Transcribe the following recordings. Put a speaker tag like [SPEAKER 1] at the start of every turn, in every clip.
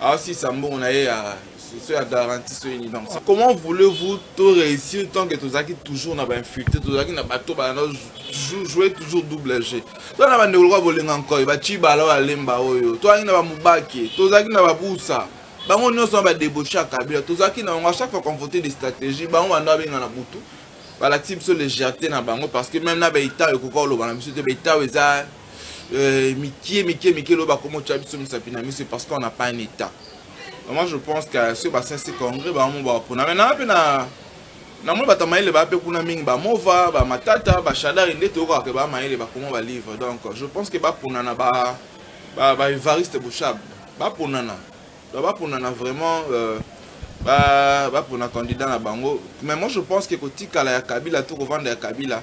[SPEAKER 1] asisa mbongo na ye ya so ya garantie so yini donc comment voulez-vous to réussir tant que tozalaki toujours na bainfiltre tozalaki na bato bana jouer toujours double jeu to na bandeko lokola bolinga nkoi bacibala oyo alemba oyo tozalaki na bamobake tozalaki na babusa bango nyonso na badebauche ya kabila tozalaki na bango à chaque fois qu'on votait des stratégies bango banda babenga na butu balakisi biso légèreté na bango parce que même na baitao ekoka koloba na biso te baitao eza euh, mikie mikie mikie loba komo tya biso misapi na miso parce qu'on n'a pas un état vraiment je pense que soki basensi congrès bango bapona mai naa mpe na namoni bato ya mayele baa mpe kuna mingi bamova bamatata bashadari nde toyokaka ke baa mayele bakoma balivre donc je pense que baponana baevariste boshab baponana donc baponana vraiment euh, bapona candidat na bango mais moi je pense que kotikala ya kabila to kovanda ya kabila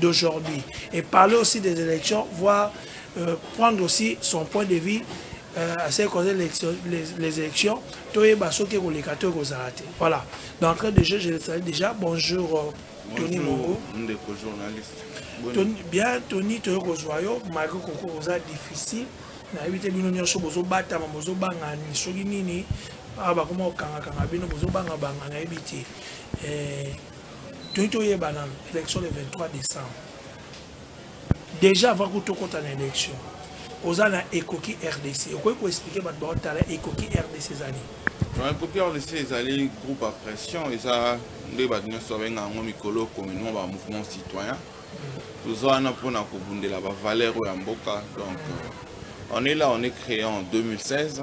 [SPEAKER 2] d'aujourd'hui et parler aussi des élections, voire euh, prendre aussi son point de vue euh, à ce qui concerne les, les élections. Toyeba soki koleka to kozala te. Voilà. D'entrée de jeu, je le salue déjà. Bonjour euh, Tony Mongo. Ndeko journaliste. Tony, bien Tony toyo kozwa yo malgré koko oza difficile. nayebi te bino nyonso bozobatama bozobanga soki nini awa bakoma kokangakanga bino bozobangabanga nayebi te eh, toyi toyeba nano élection le 23 décembre déjà avant kutu tokɔta na élection oza na ekoki rdc okoki koexplike bato baotala ekoki rdc ezali ekoki rdc ezali
[SPEAKER 1] groupe ya pression eza nde bato nyonso babenga yango mikolo communement ba mouvement citoyen toza wana mpona kobundela bavaleur oyo ya mboka donc euh, on est là on est créé en 2016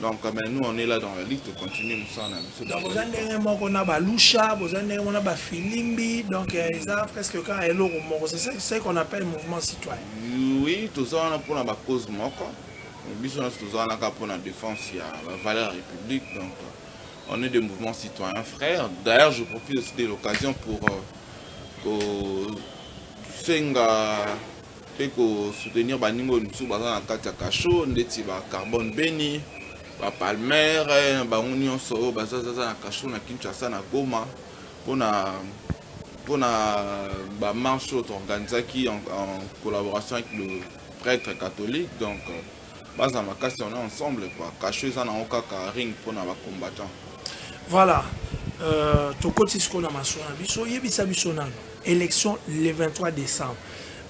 [SPEAKER 1] donc mais nous on est là dans la ligue tocontinue mosala na biso donc boza ndenge
[SPEAKER 2] moko na balusha boza ndenge moko na bafilimbi donc eza presque kaka eloko moko c'est ce qu'on appelle mouvement citoyen oui toza
[SPEAKER 1] wana mpona bacause moko biso nyonso toza wana kaka mpona défense ya bavaleur ya république donc on est des mouvements citoyens frères d'ailleurs je profite aussi de l'occasion pour euh, kosenga mpe ko soutenir baninga oyo mosusu baza na kati ya cachot ndeti ba carbone beni ba palmer na bango nyonso oyo bazazaza na cachot na kinshasa na goma mpona mpona bamarche oyo toorganisaki en, en collaboration avec le prêtre catholique donc baza makasi on est ensemble quoi cachot eza nango kaka ring mpona bacombattant voilà
[SPEAKER 2] euh, tokoti sikoyo na maso na biso oyebisa biso nano élection le 23 décembre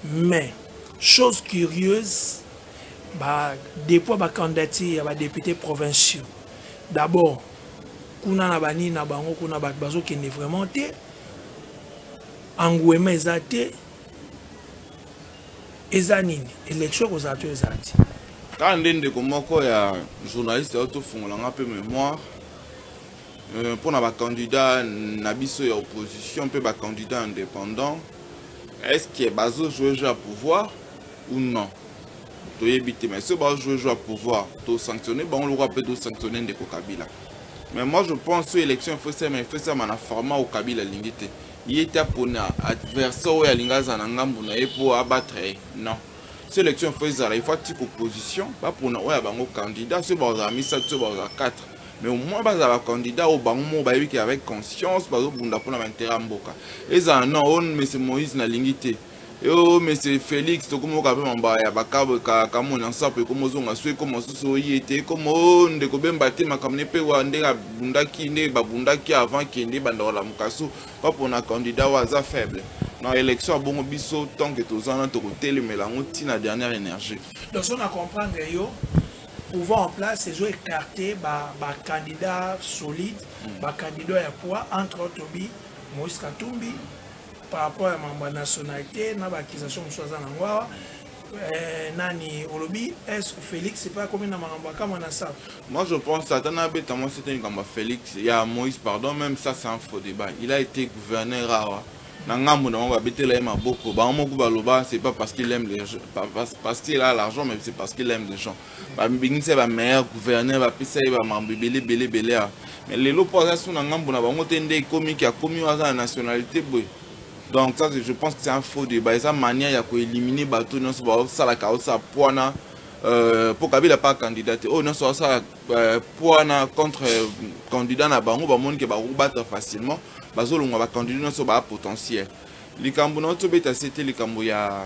[SPEAKER 2] mais chose curieuse ba dépôt ya bacandidature ya badepute provinciaux d'abord kuna na banini na bango kuna bato bazokende vraiment te anguema eza te eza nini élection ekozala to ezala ti kaka nde
[SPEAKER 1] ndeko moko ya journaliste oyo tofungola nga mpe mémoire euh, mpo na bacandidat na biso ya opposition mpe bacandidat indépendant est ce que bazojoue jeu ya pouvoir ou non toyebi te mais soki bazojoue jeu ya pouvoir tosanctionne bango lokola mpe tosanctionne ndeko kabila mais moi je pense oyo élection efosama efosama na format oyo kabila alingi te ye te apona adversaire oyo alingi azala na ngambo na ye mpo abatre ye non so élection fo ezala il faut atika opposition bapona oyo ya bango candidat soki bakozala misato soki bakozala 4 mais au moins bazala bacandidat oyo bango moko bayebi ke avec conscience bazobunda mpona baintérêt ya mboka ezala non oyo mese moïse nalingi te yo monsieur félix tokomoka mpe mamba ya bakamwe na nsapo ekoma ozonga so ekoma mosusu oye te ekoma o ndeko bemba te makambo ne mpe wa ndenge abundaki nde babundaki avant kende ebanda kolamuka so mpapona candidat oyo aza faible na élection abongo biso tant que toza na tokotelemela yango ntina dernière énergie donc so na comprendre
[SPEAKER 2] yo pouvoir en place ezo écarte bacandidat ba solide mm. bacandidat ya poids entre autres obi moïse katumbi par rapport ya makambo ya nationalité na baaccusation mosusu aza nango awa eh, nani olobi est félix epai akomi na makambo akama na sala moi je pense ata
[SPEAKER 1] nabeta mwasi te likambo ya félix ya moïse pardon même ça c'est un faux débat il a été gouverneur awa na ngambo na bango babetela ye maboko bango moko baloba c'est pas parce qu'il aime les gens parce qu'il a l'argent mais c'est parce qu'il aime les gens babengisa ba meilleur gouverneur bapesa ye bamambo ebele ebele ebele awa mais lelo mpo aza so na ngambo na bango te nde ekomi ki akomi oyo aza na nationalité boye donc ça je pense que c'est un faux débat eza manière ya koélimine bato nyonso baosalaka osala mpo wana euh, mpo kabila pa candidat te oyo nyonso baosala euh, mpo wana contre euh, candidat na bango bamoni ke bakobatre facilement bazolongwa bacandidat nyonso baa potentiel likambo na otobeta se te likambo ya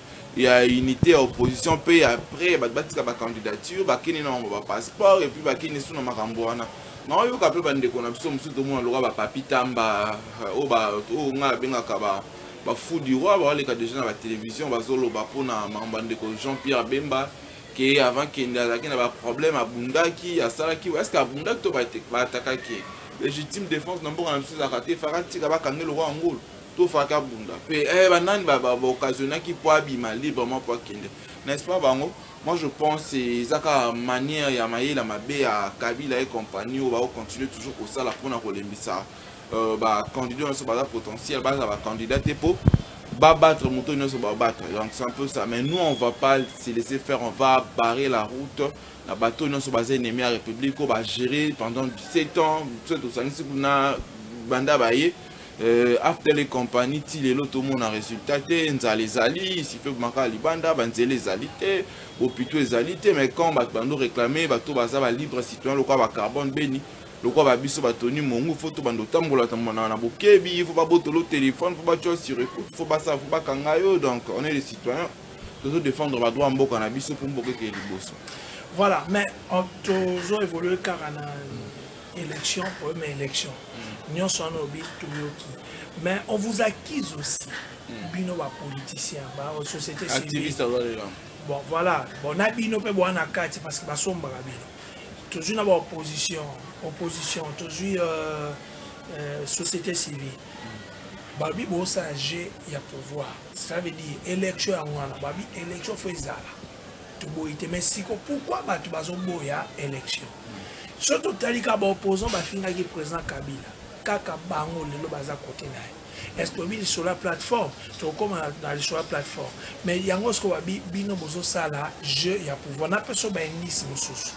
[SPEAKER 1] ya unité ya opposition mpe après bato batika bacandidature bakende na bango bapasseport epuis bakende lisusu na makambo wana naoyoka mpe bandeko na biso mosusu tomona lokola bapapi tamba euh, oyo ngai abengaka bafou du roi baoleka déjà na batelevizio bazoloba mpona makambo ya ndeko jean pierre bemba ke avant kende azalaki na baproblème abundaki asalaki eske abundaki to baatakaki légitime défense na mboka na biso ezalaka te faka tika bakange lokwa yango to faki abunda pe eh, banani ba, ba, ba occasionnaki mpo abima librement mpo akende n'est-ce pas bango moi je pense eza kaka manière ya mayela mabe ya kabila et compagnie oyo bakocontinue toujours kosala mpona kolembisa euh, bacandidat nyonso baza potentiel baza bacandidat te mpo babattre moto nyonso babattre donc c'est un peu ça mais nous on va pas se laisser faire on va barrer la route na bato nyonso baza ennemi ya république oyo bagérer pendant 17 ans biso tosangisi kuna banda baye euh, aftel et compagnie ti lelo tomona résultat te nzala ezali sife makala libanda banzela ezali te bopito ezali te mais quand bato bando réclame bato baza balibre citoyen lokola bacarbone beni lokola babiso batoni mongu fo to bando otambola tambola na bokebi fo babotolo telefone fo batyo sur écoute fo basala fo bakanga yo donc on est les citoyens tozo défendre badroit ya mboka na biso mpo mboka ekeye liboso voilà mais
[SPEAKER 2] tozo évolue kaka na élection problème ya élection nyonso wana obi toyoki mais on vous accuse aussi hmm. bino bapoliticien basociété civile bon voilà bon na bino mpe boa na kati parce que basombaka bino tozwi na baopposition opposition tozwi euh, euh, société civile hmm. babi bosala jeu ya pouvoir ça veut dire élection yango wana babi élection fo ezala toboyi te mais siko pourquoi bato bazoboya élection soki totali kaka baopposant bafingaki président kabila kaka bango lelo baza kote na ye est-ce que bili sur la plateforme tokoma na sur la plateforme mais yango sikoyo babi bino bozosala jeu ya pouvoir na peso baindice mosusu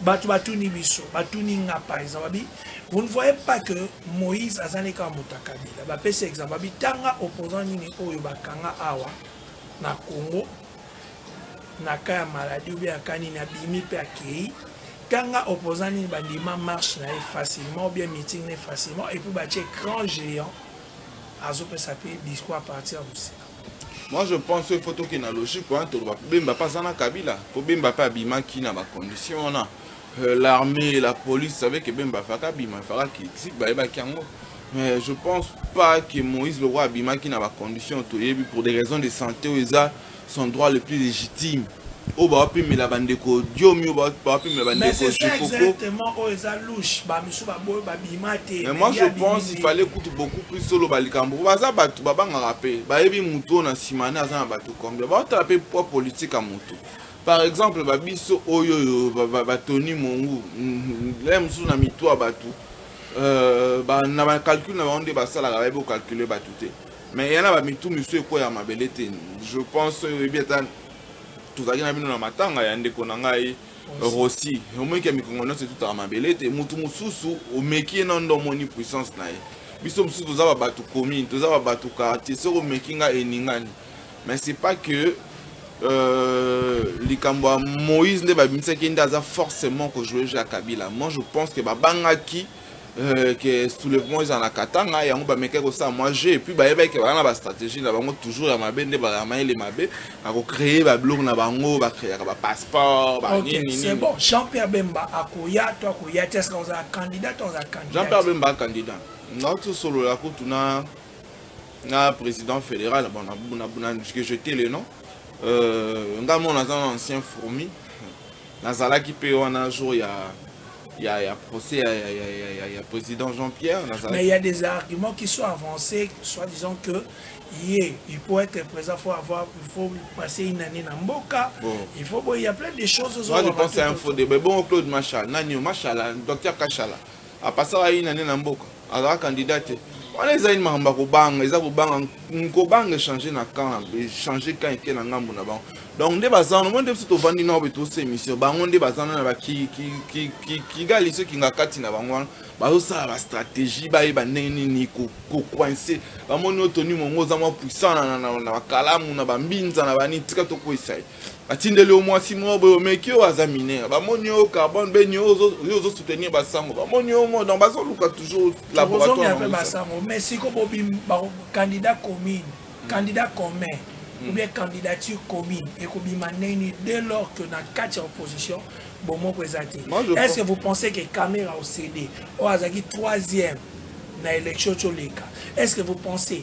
[SPEAKER 2] bato batuni biso batuni nga par exemple babi vous ne voyez pas que moïse azali kaka moto ya kabila bapesi exemple babi tanga opposant nini oyo bakanga awa na congo na ka ya maladie oubien ya ka nini abimi mpe akei tanga opposant nini bandima marche na ye facilement oubien meeting na ye facilement epuis batie grand géant azopesa mpe discours à partir ya mosika moi je pense
[SPEAKER 1] il faut tokende na logique wana toloba bemba mpe aza na kabila mpo bemba mpe abimaki na bacondition wana euh, l'armée la police savait que bemba afaka bima afaka critique bayebaki yango mais je pense pas que moïse le roi abimaki na bacondition toyebi pour des raisons de santé oyo eza son droit le plus légitime oyo bawapimela bandeko diomi oyo bawapimela bandeko
[SPEAKER 2] moi je pense
[SPEAKER 1] il fallait kutu beaucoup plus oloba likambo baza bato babangaka mpe bayebi motu oyo na nsima ne aza na bato combien baotala mpe poids politique ya motu par exemple ba biso oyo yo ba Tony Mongu là mosusu na mitwa bato euh, ba, na ba calcul na bango nde basalaka bayebi ocalcule bato te mais yana ba mitu misu ekweya mabele te je pense oyebi ata tozalaki na bino na matanga ya ndeko na ngai rosi omeki ya mikongo nyonso etutaka mabele te motu mosusu omeki ye na ndo omoni puissance na ye biso mosusu toza babato commune toza babato quartier soki omeki ngai eningani mais c'est pas que euh, likambo ya moïse nde babimisaki nde aza forcément kojouer jeu ya kabila moi je pense que babangaki euh, ke soulèvement eza na katanga yango bamekaki kosala mwa jeu epuis bayebaki ke baza na bastratégie na bango toujours ya mabe nde bayamayele mabe bakocreye babiloko na bango bacreaka bapasseport banini bon jean pierre
[SPEAKER 2] bemba akoya to akoya te eske ozala candidat to ozala candidat jean pierre bemba candidat
[SPEAKER 1] ngauti osolola kutu na nga président fédéral bon que jeté le nom euh, nga mona aza na ancien fourmi nazalaki mpe wana jour ya ya, ya procès ya, ya, ya, ya, ya président jean pierre nazalaki mais il y a des
[SPEAKER 2] arguments qui sont avancés soit disant que ye il faut être présent faut avoir il faut passer une année na mboka bon. il faut bon il y a plein de choses moi je pense à un faux
[SPEAKER 1] débat bon claude machala nani machala docteur kachala apasaka ye nane na mboka azalaka candidat te wana eza ini makambo ya kobanga eza kobanga nkobanga echange na camp echange camp eke na ngambo na bango donc nde baza wana omoni nde biso tovandi nao betosa émission bango nde baza wana na bakigali soki nga kati na bango wana bazosala bastratégie bayeba ndenge nini kocoince bamoni otoni mongo oza mwa puissant na bakalamu na bambinza na banini tika tokwisa ye batindeli yo mwasi moko boye omeki oyo aza minere bamoni yo carbone beni yo ozosoutenir basango bamoni yo ngo donc bazoluka toujours laboratoire basango mais siko
[SPEAKER 2] bobim candidat commune hmm. candidat commun hmm. ou bien candidature commune ekobima ndenge nini dès lors que na kati ya opposition bomoko eza te est ce que vous pensez que camera ocd oyo azalaki troisième na élection coleka est ce que vous pensez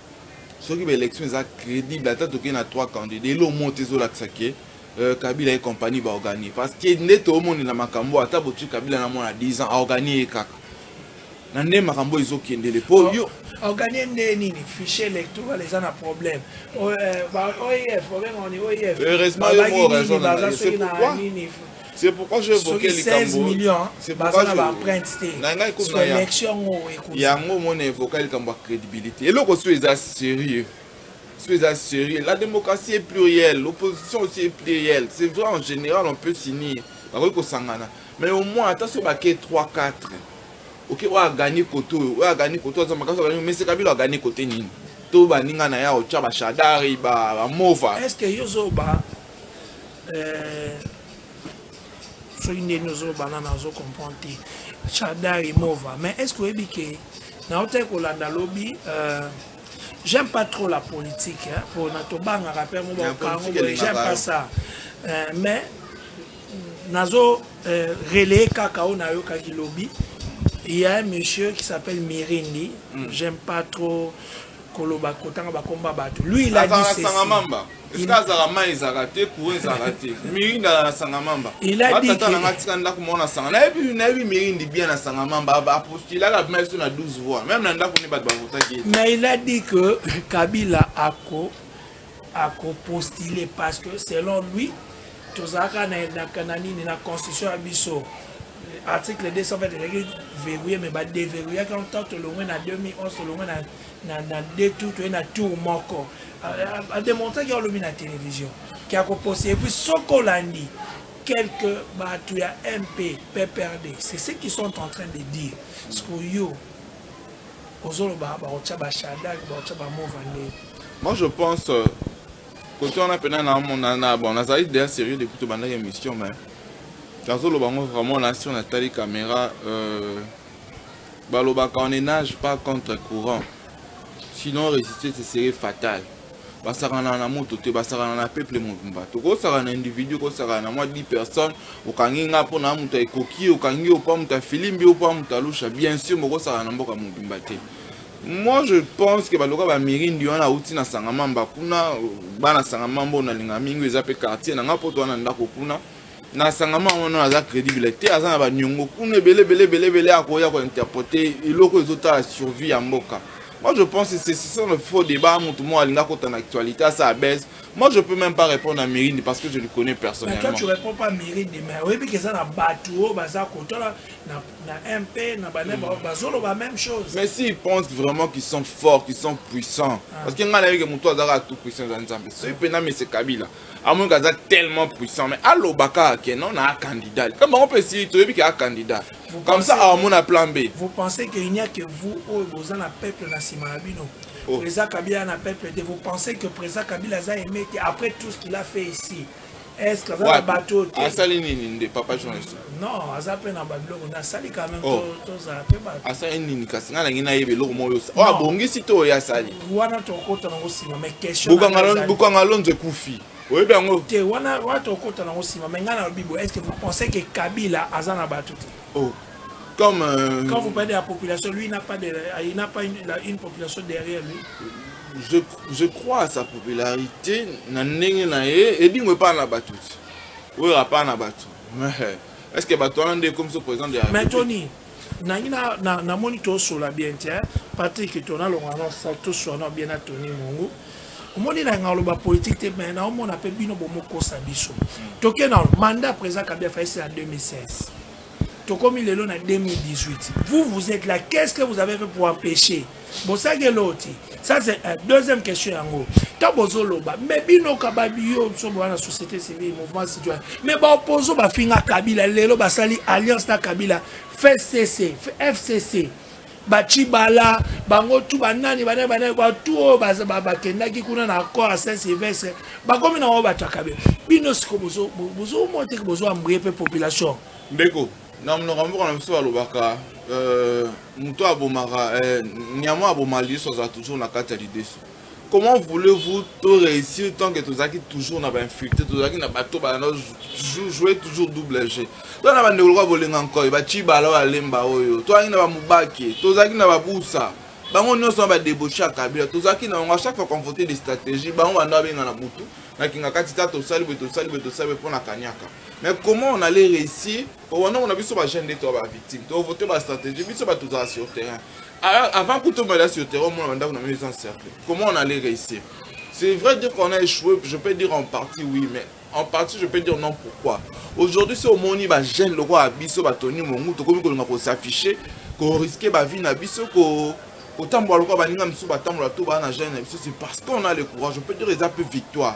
[SPEAKER 1] soki ba élection eza crédible ata toke na trois candidats elo omo te ezolakisa ke euh, kabila ye compagnie baorganie parce que nde toomonela makambo ata botui kabila na mwana 10 ans aorganie ye kaka na nde makambo ezokendele mpo yo organie nde
[SPEAKER 2] nini fichier électoral eza na problème oef euh, obenga oni oef
[SPEAKER 1] heureusement yo mo raison na nini C'est pourquoi je évoquais likambo. millions c'est
[SPEAKER 2] pourquoi je ba
[SPEAKER 1] emprunte te. Na ngai
[SPEAKER 2] comme na élection ngo ekoza. Yango
[SPEAKER 1] mona évoquer likambo ya crédibilité. Eloko so eza sérieux. So eza sérieux. La démocratie est plurielle, l'opposition aussi est plurielle. C'est vrai en général on peut s'unir. Bakoki kosangana. Mais au moins ata so bake 3 4. Ok, oyo agani kote oyo, oyo agani kote oyo aza makasi agani, mais c'est Kabila agani kote nini? To baninga na ye aotya bashadari, bamova. Est-ce que yo zoba
[SPEAKER 2] euh, soki ndeni ozobana na ozo comprendre te chada remova mais est ce que oyebi ke naotaki kolanda lobi euh, j'aime pas trop la politique hein, pona tobangaka mpe yango bakango boye j'aime pas ça euh, mais nazo euh, relaye kaka oyo nayokaki lobi il y a un monsieur qui s'appelle mirindi mm. j'aime pas trop koloba kotanga bakombo ya bato lui il a dit ceci sangamamba eske azalaka mai ezalaka te courant ezalaka te mirinda na sangamamba batata nanga atika ndako moko na sanga nayebi nayebi mirindi bien na sangamamba apostulaka bima biso na 12 voix meme na ndako nde bato bavotaki mais il a dit que kabila ako à postuler parce que selon lui tozalaka na nini na constitution ya biso article 220 ezalaki verrouille mais badeverrouillaki en tant tolongwe na 2011 tolongwe na deux tour toye na tour moko ademontraki olobi na télévision ke akopose epuis soki olandi quelque bato ya mp pprd c'est ce qu'ils sont en train de dire sikoyo ozoloba bakotya bashadak bakotya bamova ndenge moi je
[SPEAKER 1] pense euh, kote wana mpena namonana bon nazali deja sérieux depuis tobandaki émission mais nazoloba yango vraiment na sur natali caméra euh, balobaka on enage pas contre courant sinon résister ce serait fatal basakana na moto te basakana na peuple mobimba tokosaka na individu kosaka na mwa 10 personnes okangi nga mpo na moto ekoki okangi yo mpo moto afilimbi yo mpo moto alusha bien sûr mokosaka na mboka mobimba te moi je pense ke baloka bamirindi wana auti na sangamamba kuna bana sangamamba oyo nalinga mingi eza mpe quartier na ngai mpo to wana ndako kuna na sangama yango no aza crédible te aza na baniongo kuna ebele ebele ebele ebele akoya kointerprete eloko ezotala survie ya mboka Moi, je pense que c'est ça le faux débat. Tout le monde a une actualité, ça baisse. Moi, je ne peux même pas répondre à Mérine parce que je le connais personnellement. Mais toi, tu ne réponds pas à
[SPEAKER 2] Mérine, mais oui, mais c'est un bateau, bazar, côté là, na MP, na bané, bazolo, la même chose. Mais s'ils pensent
[SPEAKER 1] vraiment qu'ils sont forts, qu'ils sont puissants, ah. parce que n'a que mon toit tout puissant dans les Zambie, c'est Pena, mais c'est Kabila. amonaka aza tellement puissant mais alobaka ake non na candidat comme bango mpe si toyebi ke a candidat comme ça amona plan b vous pensez que il n'y a
[SPEAKER 2] que vous oyo boza na peuple na nsima na bino oh. président kabila na peuple te vous pensez que président kabila aza aimé te après tout ce qu'il a fait ici est ce que aza na bato te asali nini nde papa
[SPEAKER 1] journaliste non aza mpe na
[SPEAKER 2] babiloko nde asali quand même oh. tozala mpe bato asali nini kasi ngai nangi
[SPEAKER 1] nayeba eloko moko yosa oyo oh, abongisi to oyo asali wana tokota nango
[SPEAKER 2] nsima mais questionbukanga lonzo
[SPEAKER 1] ekufi oyebi yango te wana wana
[SPEAKER 2] tokota nango nsima mais ngai nalobi boye est ce que vous pensez que kabila aza na bato te oh.
[SPEAKER 1] comme euh... quand vous parlez
[SPEAKER 2] de la population lui il n'a pas de il n'a pas une, la, une population derrière lui je,
[SPEAKER 1] je crois à sa popularité na ndenge na ye edingo epai na bato te oyo apai na bato est ce que bato wana nde ekomi so président mais toni
[SPEAKER 2] nangi namoni tosola bien te patrik tona longana toswana bien na toni mongo omoni na ngai oloba politike te mai naomona mpe bino bomokosa biso toke na mandat président kabila faisi na 2016 tokomi lelo na 2018 vous vous êtes là qu'est ce que vous avez fait pour empêcher bosaki eloti ça c'est un deuxième question yango ntango bozoloba mais bino kababiyo biso bowana société civile mouvement citoyen mais baopposo bafinga kabila lelo basali alliance na kabila fcc fcc bacibala bango tu banani banani banani batu oyo bakendaki kuna na accord ya saint sylvestre bakomi na bango bato ya kabila bino siko bozomoteke bozwa mbuye mpe population ndeko
[SPEAKER 1] na monoko ya mboka na biso balobaka euh, moto abomaka euh, nyama aboma liso azala toujours na kati ya lideso comment voulez-vous to réussir tant que tozalaki toujours na bainfiltre tozalaki na bato bana jouer toujours double jeu to na bandeko lokola bolenga nkoi bacibala oyo alemba oyo tozalaki na bamobake tozalaki na babusa bango nyonso na badebauche ya kabila tozalaki na bango a chaque fois convote des stratégie bango banda babenga na butu na kingakati ta tosali boye tosali boye tosali boye mpo na kaniaka mais comment on allait réussir wana na biso bajeune nde toa bavictime tovote bastratégie biso bato tozala sur terrain ah, avant kuta omela sur terrain omona bandako na mio eza encercle comment on allait réussir c'est vrai dire qu'on a échoué je peux dire en partie oui mais en partie je peux dire non pourquoi aujourd'hui so omoni bajeune lokola biso batoni mongu tokomi kolinga kosaffiche koriske bavie na biso ko kotambola lokola baninga mosusu batambola to baa na jeune na biso c'est parce qu'on a le courage je peux dire eza mpe victoire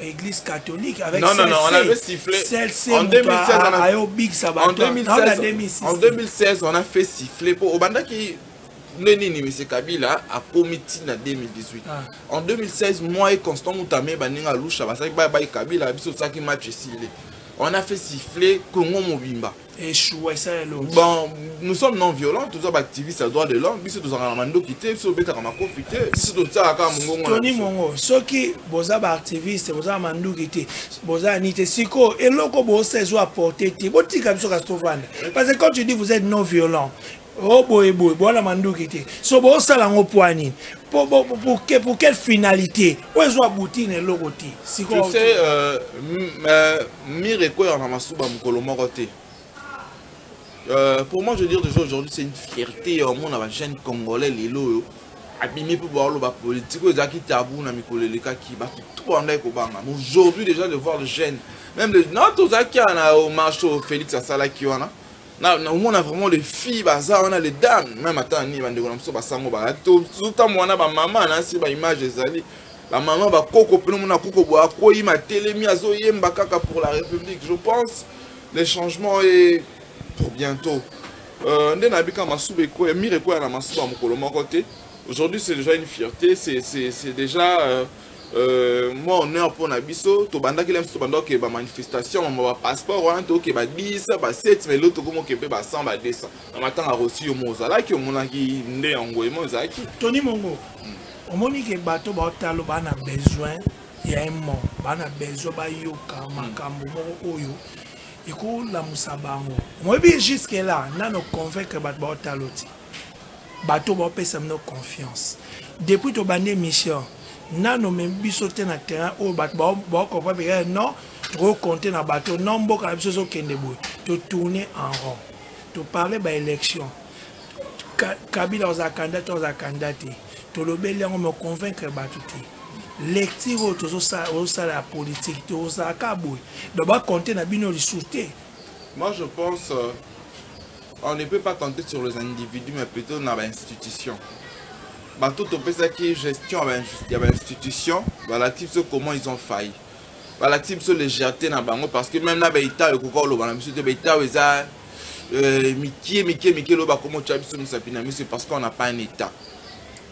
[SPEAKER 1] église
[SPEAKER 2] catholique avec non, non, non, on avait sifflé
[SPEAKER 1] en 2016 on a... ayo big sabata en 2016, 2016 en 2016 on a fait siffler pour obandaki nde nini monsieur kabila akomi ti na 2018 ah. en 2016 moi et constant mutame baninga alusha basalaki baye baye kabila biso tosalaki match esili on a fait siffler congo mobimba echoua esala eloko bon nous sommes non violents toza baactiviste ya droit de l'homme biso tozalaka na mandoki te biso tobetaka makofi te biso tosalaka kaka mongongo toni mongo
[SPEAKER 2] soki boza baactiviste boza na manduki te boza ni te sikoyo eloko bosa ezo apporte te botika biso kasi tovanda parce que quand tu dis vous êtes non violent o oh, boye boye boala manduki te so bosala yango mpo nini pour quelle finalité oyo ezwa buti na eloko te sikoyo euh, euh,
[SPEAKER 1] mire ekoyaka na masuba mokolo moko te Euh, pour moi, je veux dire déjà aujourd'hui, c'est une fierté au monde la jeune congolais, Lilo. abimi mpo baoloba politike oyo ezalaki tabou na mikolo elekaki bato tout bandaki kobanga aujourd'hui déjà de voir le jeune même le non tozalaki wana na marche oyo félix asalaki wana naomona vraiment les filles baza wana les dames meme ata nini bandeko na biso basango bayaki tozotambola na bamama nasi baimage ezali bamama bakoko mpena omona koko boye akwei matelemi azoyemba kaka pour la république je pense le changement est pour bientôt euh, nde nayebi kaka masuba ekweya mire ekweya na masuba mokolo moko te aujourd'hui c'est déjà une fierté c'est déjà euh, Euh, moi honneur mpo na biso tobandaki lem tobanda okeba manifestation mama bapasseport wana tokeba 10 ba 7 mais loto komi okebe ba 100 ba 200 na matanga akosi yo mo ozalaki omonaki nde yango emo ezalaki toni
[SPEAKER 2] mongo omoni ke bato
[SPEAKER 1] baotalo
[SPEAKER 2] baa na besoin ya emo baa na besoin bayoka hmm. makambo moko oyo ekolamusa bango omoyebi juske la nano convaincre bato baotalo ti bato bapesa bino confiance depuis tobandi émission nano me biso te na terrain oyo bato baokopa peka eh, non tokokonte na bato non mboka na biso ezokende boye totourne en rond toparle baélection kabila ozala kanda te ozala kanda te tolobeli yango me convaincre bato te lecture oyo tozosala ya politike te ozalaka boye donc bakonte na bino lisusu te moi je
[SPEAKER 1] pense euh, on ne peut pas compter sur les individus mais plutôt na bainstitution bato topesaki gestion ya bainstitution balakisi biso comment ils ont failli balakisi biso légèreté na bango parce que même na baitao ekoka oloba na biso te baitao eza euh, mikie mikie mikie loba komotya biso misapi na miso parce qu'on n'a pas un état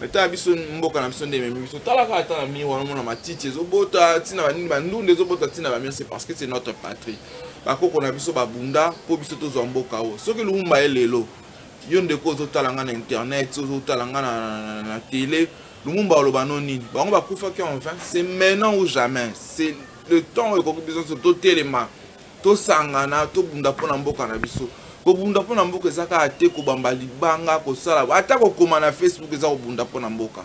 [SPEAKER 1] mais tala biso mboka na biso nde ememi biso tala kaka ata na mire wana mona matiti ezobota ntina banini bandunda ezobota ntina bamire c'est parce que c'est notre patrie bakoko na biso babunda mpo biso tozwa mboka oyo soki lumumba ye lelo yo ndeko ozotala ngai na internet ozotala ngai na tele lumumba oloba no nini bango bakufaki en vain c'est maintenant ou jamais c'est le temps oyo ekoki biso nyonso totelema tosangana tobunda mpo na mboka na biso kobunda mpo na mboka eza kaka te kobamba libanga kosala ata kokoma na facebook eza kobunda mpo na mboka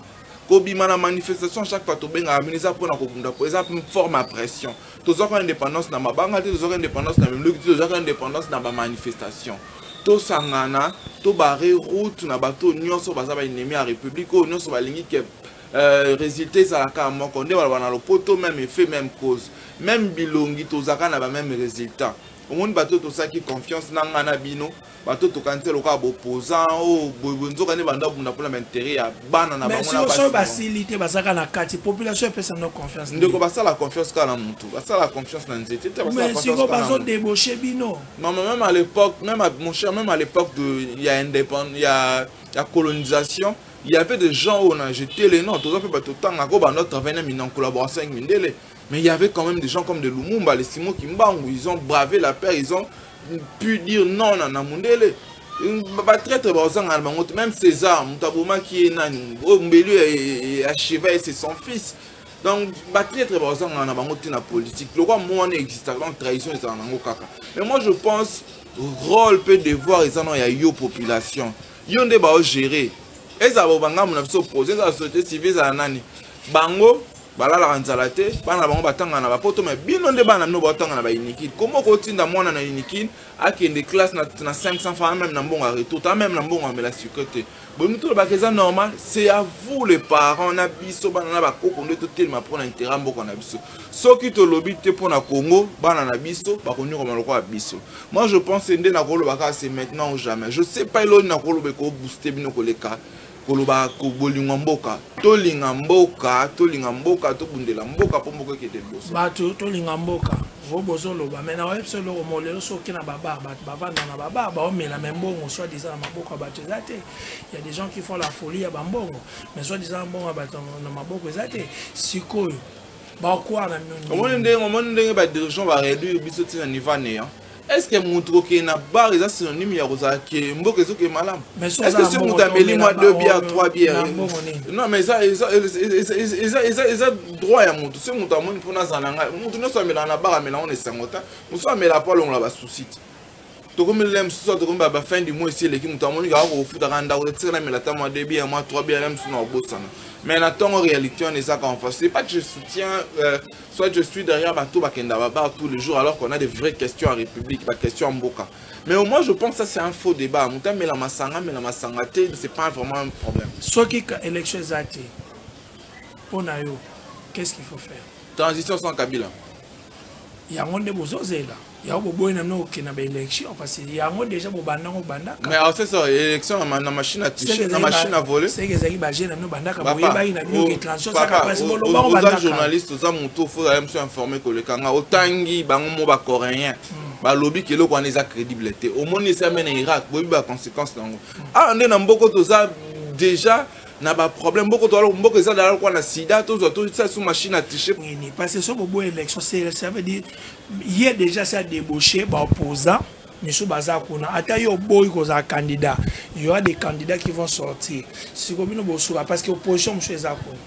[SPEAKER 1] kobima na manifestation chaque fois tobengaka bino eza mpona kobunda mpo eza forme ya pression tozwaka indépendance na mabanga te tozwaka indépendance na mimluki te tozwaka indépendance na bamanifestation tosangana tobare route na bato oyo nyonso baza baennemi ya république oyo nyonso balingi ke Euh, résultat ezala kaka moko nde baloba na lopoto même effet même cause même bilongi tozalaka na bameme résultat omoni bato tosalaki confiance na ngai na bino bato tokanisi lokola boposant o oh, boyeboye nzoka nde banda bunda mpona baintere ya bana na bango basili te
[SPEAKER 2] bazalaka na kati population epesa no confiance ndeko basala confiance
[SPEAKER 1] kaka na motu basala confiance na nzete te basiko bazodebauche
[SPEAKER 2] bino mama même à l'époque
[SPEAKER 1] même mon cher même à l'époque ya indépendance ya colonisation ya Il y avait des gens où on a jeté les noms, tout à fait, bah, tout le temps, on bah, a travaillé en collaboration avec Mindele, mais il y avait quand même des gens comme de Lumumba, les Simon Kimbangu, ils ont bravé la paix, ils ont pu dire non à Namundele. batraître bazanga na bango te même césar moto abomaki ye nani oyo mbelu ya sheva ye c'est son fils donc batraître bazanga na bango te na politique lokwa mo wana existaka donc trahison ezala nango kaka mais moi je pense rôle mpe devoir eza no ya yo population yo nde bao gérer ezala bobangamu na biso projet ezala société civile ezala nani bango balalaka nzala te bana na bango batanga na bapoto me bino nde bana bino baotanga na baunikin koma okotinda mwana na unikin akende classe na, na 500 franc meme na mbongo ya retour ta meme na mbongo amela sucre te bolingi tolobaka eza normal c'est à vous les parents na biso bana na bakoko nde totelema mpo na intérêt mboka na biso soki tolobi te mpo na congo bana na biso bakonyokwama lokola biso Moi je pense nde nakoloba kaka c'est maintenant ou jamais. Je sais pas eloni nakoloba ko booster bino koleka koloba ko bolingo mboka. Tolinga mboka, tolinga mboka, tobundela mboka mpo mboka ekende liboso. Bato tolinga mboka.
[SPEAKER 2] Vo bozoloba mais na oyebisa eloko molelo soki na babar bato bavanda na babar baomela me mbongo soit disant na maboko ya bato eza te ya des gens qui font la folie ya bambongo mais soit disant mbongo ya bato na maboko eza te sikoyo bakwara omoni ndenge omoni ndenge
[SPEAKER 1] badirigant bareduire biso ntina niveau aneya est ce que motu kokende na bar eza synonyme ya kozala ke mboka ezoke malamu est ce que soki motu ameli mwa deux bière trois bière non mais eza droit ya motu soki motu amoni mpona azala na ngai motu nyonso amelaka na bar amelaka na esango te mosusu amelaka mpo alongola basusi te tokomi lele mosusu awa tokomi ba fin du mois esi eleki moto amoni kaka kofutaka ndako te tikala mela ata mwa debi ya mwa trois bi ya mosusu na kobosana mais na ntongo réalité wana ezaka en face c'est pas que je soutiens euh, soit je suis derrière bato bakenda babar tous les jours alors qu'on a des vraies questions en république baquestion ya mboka mais au moins je pense ça c'est un faux débat moto amela masanga amela masanga te c'est pas vraiment un problème soki ka élection
[SPEAKER 2] eza te mpo na yo qu'est ce qu'il faut faire transition sans kabila yango
[SPEAKER 1] nde
[SPEAKER 2] bozozela yango boboyi na bino kokenda ba élection parce que yango déjà bobanda ngo bandaka mais c'est
[SPEAKER 1] ça
[SPEAKER 2] élection
[SPEAKER 1] na na machine à toucher na machine à voler c'est que ezali ba jeune na bino
[SPEAKER 2] bandaka boyebaki na bino que transition ça ka passe bolo
[SPEAKER 1] bango bandaka oza journaliste oza mutu faut ya monsieur informé ko leka nga otangi bango mo ba coréen hmm. balobi ke eloko wana eza crédible te omoni esa mena irak boyebi ba conséquence nango hmm. awa ah, nde na mboko toza déjà na baproblème boko toala mboka eza dala lokwa na sida tozwa tosala so machine à tiche parce que so boboya
[SPEAKER 2] élection ça veut dire ye deja si adebauche baopposant misu baza kuna ata yo oboyi kozala candidat y aura des candidats qui vont sortir siko bino bosuka parce que opposition mosusu eza kuna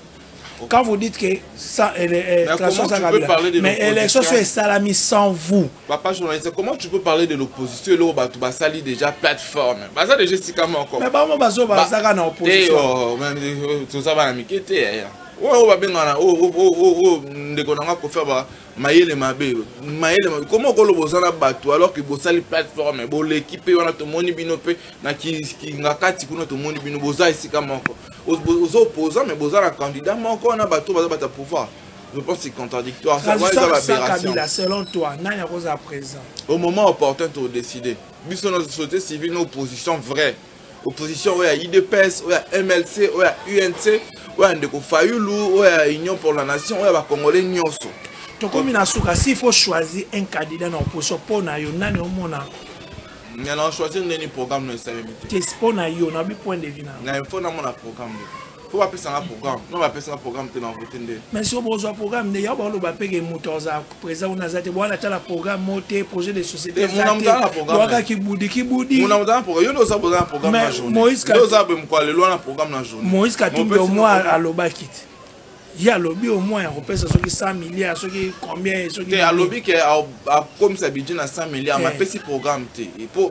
[SPEAKER 2] quand vous dites que ça, elle, elle, mais, comment tu peux parler de mais élection soit esalami sans vous papa journaliste comment
[SPEAKER 1] tu peux parler de l'opposition eloko bato basali déjà plateforme baza déjà esika moko mais bango bazo bazaka
[SPEAKER 2] na opposition oh, toza
[SPEAKER 1] bana mike te oyo babengana oyo ndeko na nga kofa mayele mabe mayele mabe koma okoloba oza na bato alors ke bosali plateforme boleki mpe wana tomoni bino mpe na kingakati kuna tomoni bino boza esika moko oza opposant mais boza na candidat moko wana bato baza bata pouvoir je pense c'est contradictoire ça va eza l'aberration
[SPEAKER 2] selon toi nani akozala présent au moment opportun
[SPEAKER 1] to décider biso na société civile na opposition vraie opposition oyo ya idps oyo ya mlc oyo ya unc oyo ya ndeko fayulu oyo ya union pour la nation oyo ya bacongolais nyonso tokomi na
[SPEAKER 2] suka si faut choisir un candidat na opposition mpo na yo nani omona na
[SPEAKER 1] choisir ndeni programme na esalemi te mpo na yo na
[SPEAKER 2] bi point de vue na na info namona
[SPEAKER 1] programme po bapesanga programme no bapesanga programme te na vote nde mais soki bozwa programme
[SPEAKER 2] nde yango baoloba peke moto aza président kuna aza te bwana atala programme mo te projet de société ezatewaka
[SPEAKER 1] kibudi kibudimaoïse
[SPEAKER 2] katumbi omoi alobaki te ye alobi au moins akopesa soki 100 milliard soki combien soki te alobi ke
[SPEAKER 1] akomisa budget na 100 milliard mais apesi programme te po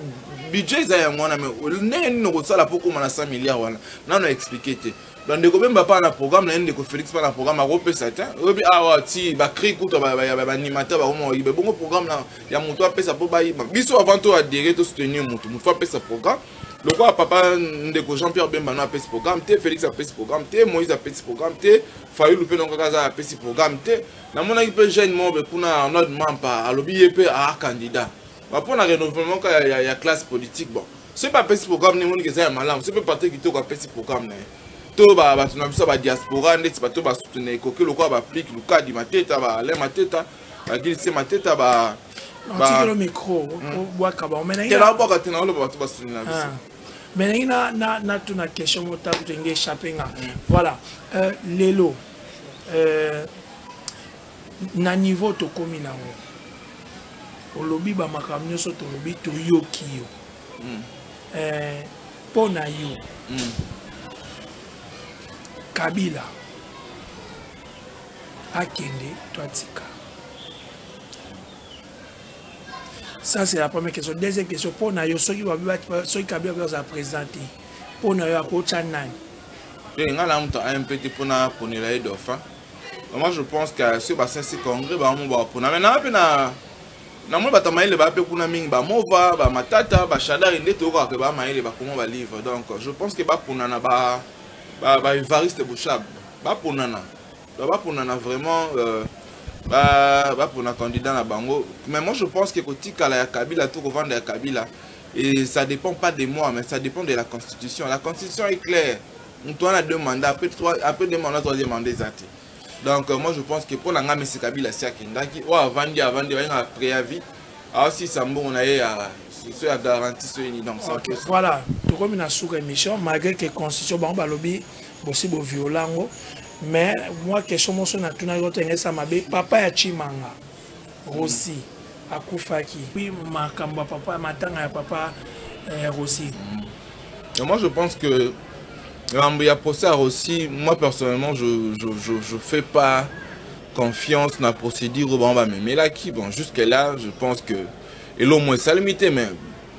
[SPEAKER 1] budget eza yango wana mais ndenge nini okosala po okoma na 100 milliard wana nano explike te bandeko bemba mpaa na programme na ye ndeko félix mpaa na programme akopesa te oyebi awa ah, ti bacri kuta banimata bakomoyiba ebongo programme ya moto apesa mpo bayiba biso avant to adere to soutenir motu motu fo apesa programme lokola papa ndeko jean pierre bemba no apesi programme te félix apesi programme te moïse apesi programme te fayulu mpe nokaka aza apesi programme te namonaki mpe jeune mobe kuna arnold mampa alobi ye mpe aa ah, candidat Ba pona renouvellement ka ya, ya, ya classe politique bon. Ce pas petit programme ni moni que ça ya malamu. Ce peut partir kitoko a petit programme na. To ba ba tuna biso ba diaspora ndeti ba to ba soutenir koke lokola ba plique lukadi mateta ba le mateta ba gilise mateta ba batikelo
[SPEAKER 2] micro obwaka bango menabwaka te naoloba
[SPEAKER 1] bato basuni na biso me nangi
[SPEAKER 2] natuna question motaku tenge échappe nga voilà lelo na niveau tokomi nango olobi bamakambo nyonso tolobi toyoki yo mm. eh, mpo na yo mm. kabila akende to atika ça c'est la première question deuxième question mpo na yo soki soki kabila mpe azala président te mpo na yo akotya nani ngai na moto ampe te mpo na ponela ye
[SPEAKER 1] dauphin moi je pense que soki basensi congrès bango bapona mai naa mpe na namoni bato ya mayele baa mpe kuna mingi bamova bamatata bashadari nde toyokaka ke baa mayele bakoma balivre donc je pense que baponana baevariste bouchab baponana baponana vraiment euh, bapona candidat na bango mais moi je pense que kotikala ya kabila to kovanda ya kabila et ça dépend pas de moi mais ça dépend de la constitution la constitution est claire moto wana deux mandat après, trois, après deux mandat troisième mandat eza te donc euh, moi je pense que mpo na ngai mesi kabila asi akendaki oyo avandi avandi bayengaka préavis aosilisa mbongo na ye ya so ya garantie soki nini donc okay, voilà
[SPEAKER 2] tokomi na suka émission malgré que constitution bango balobi bosi boviola yango mais moi question moso natunaki otengesama be papa ya chimanga Rosi akufaki. Oui, makambo ya papa matanga ya papa eh, Rosi. Mm.
[SPEAKER 1] Moi je pense que makambo ya procès Rosi, moi personnellement je je je, je fais pas confiance na procédure oyo bango bamemelaki bon jusque là je pense que elomoi esalemi te mais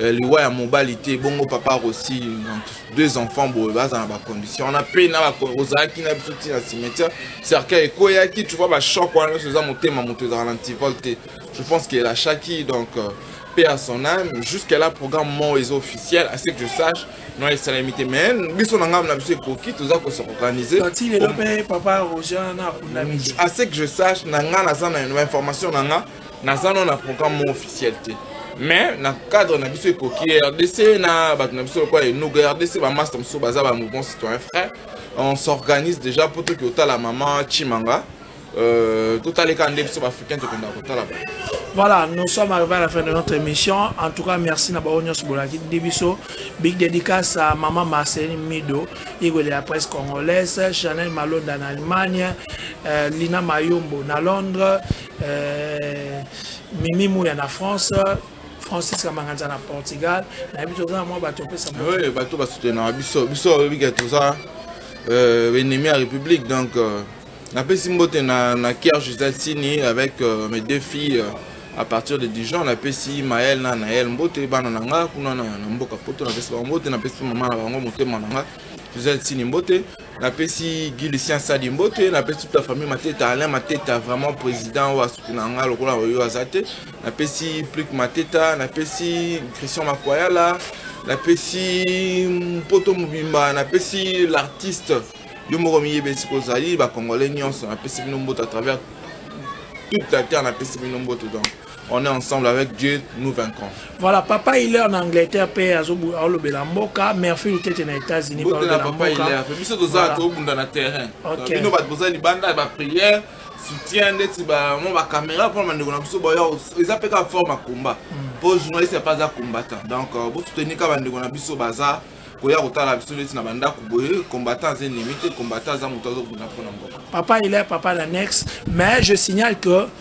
[SPEAKER 1] Euh, liwa ya mobali te bongo papa rosi deux enfants boye baza na bacondition wana mpe na ozalaki na biso ntina cimetière cercueil ekweyaki tu vois bachoc wana nyonso eza motema moto ezala na antivol te je pense qu'elle achaki donc euh, paix à son âme jusqu'à là programme moko eza officiel à ce que je sache non esalemi te mais biso na ngambo na biso ekoki toza ko se organiser
[SPEAKER 2] à ce que je sache
[SPEAKER 1] na ngai naza na information na ngai naza no na programme mo officiel te mais na cadre na biso ekoki rdc na bato na biso lokola enuga rdc bamaster mosusu baza ba mouvement citoyen frère on s'organise déjà mpo toki otala mama chimanga euh, totaleka nde biso baafricain tokendaka kotala ba
[SPEAKER 2] Voilà, nous sommes arrivés à la fin de notre émission. En tout cas, merci na baonyo sobolaki debiso. Big dédicace à maman Marceline Mido, Igwe de la presse congolaise, Chanel Malonda en Allemagne, euh, Lina Mayombo na Londres, Euh, Mimi Mouya na France, Francis Kamanganza na Portugal, na biso za mwa bato pesa mwa. Oui, bato ba soutenir
[SPEAKER 1] biso, biso oyebi que tout ça euh ennemi à République donc euh, na pesi mbote na na Kier Gisèle Sini avec euh, mes deux filles euh, à partir de Dijon na pesi Maël na Naël mbote bana na nga kuna na mboka poto na pesi ba mbote na pesi maman na bango motema na nga Gisèle Sini mbote napesi guy lucien sadi mbote napesi toute la famille mateta alain mateta vraiment président oyo asuki na nga lokola oyo aza te napesi plik mateta napesi christian makwayala napesi mpoto mobimba napesi l'artiste yo moko miyebi esika ozali bacongolais nyonso napesi bino mbote à travers toute la terre napesi bino mbote donc on est ensemble avec Dieu, nous vaincrons. Voilà, papa il est en Angleterre, père Azobu Aolobela Mboka, merci le tête aux États-Unis pour la papa il est. Mais c'est aux autres au bout dans le terrain. OK. Nous va poser les bandes, la prière, soutien ndeti ba mon ba caméra pour mande kona biso boya eza pe ka forme combat. Hmm. Pour journaliste pas un combattant. Donc euh, vous soutenez ka bande kona biso baza koya kotala biso neti na bandako boye combattant aza ennemi te combattant aza moto azobunda mpo na mboka papa il est papa l'annexe mais je signale que